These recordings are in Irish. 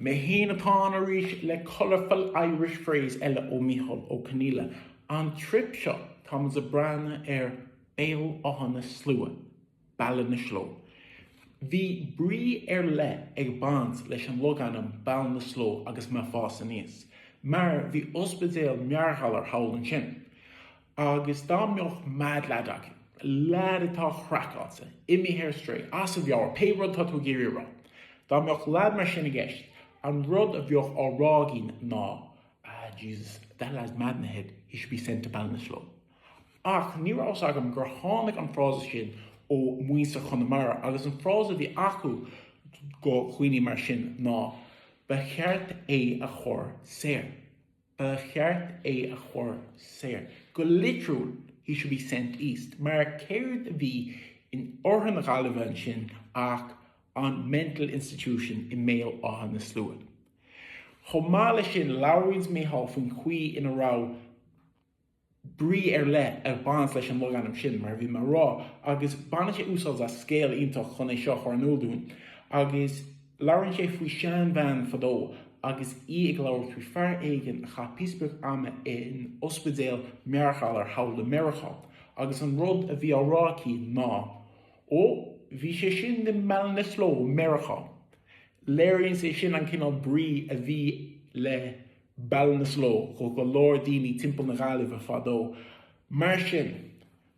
Mé féin atá ann arís le Colourful Irish Phrase eile ó Micheál Ó Conghaile. An turas seo táimid ag breathnú ar Béal Átha na Sluaighe, Ballinasloe. Bhí brí ar leith ag baint leis an logainm Ballinasloe agus mé ag fás aníos, mar bhí ospidéal meabhairghalair thall ansin. Agus dá mbeadh mad lad agat, lad atá craiceáilte, imithe ar strae, as a mheabhair, pé rud atá tú ag iarraidh a rá, dá mbeadh lad mar sin i gceist, an rud a bheadh á rá againn ná, Ah, Jesus, that lad's mad in the head, he should be sent to Ballinasloe. Ach ní raibh a fhios agam gur tháinig an frása sin ó mhuintir Chonamara, agus an frása a bhí acu do dhaoine mar sin ná Ba cheart é a chur soir. ba cheart é a chur soir, go litriúil, he should be sent east, mar céard a bhí in oirthear na Gaillimhe ansin ach an mental institution i mBéal Átha na Sluaighe. Chomh maith leis sin, labhraíonns Micheál faoin chaoi ina raibh. brí ar leith ag baint leis an logainm sin, mar a bhí mé a rá, agus baineann sé úsáid as scéal iontach chun é seo a chur in iúl dúinn. Agus labhraíonn sé faoi sheanbhean fadó agus í ag labhairt faoi fhear éigin a chaith píosa beag ama in ospidéal meabhairghalair thall i Meiriceá, agus an rud a bhí á rá aici ná, Ó, bhí sé sin i mBallinasloe Mheiriceá. Léiríonn sé sin an cineál brí a bhí le Ballinasloe do go leor daoine timpeall na Gaillimhe fadó. Mar sin,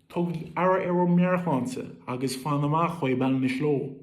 tugaigí aire do bhur meabhairshláinte agus fan amach ó Ballinasloe!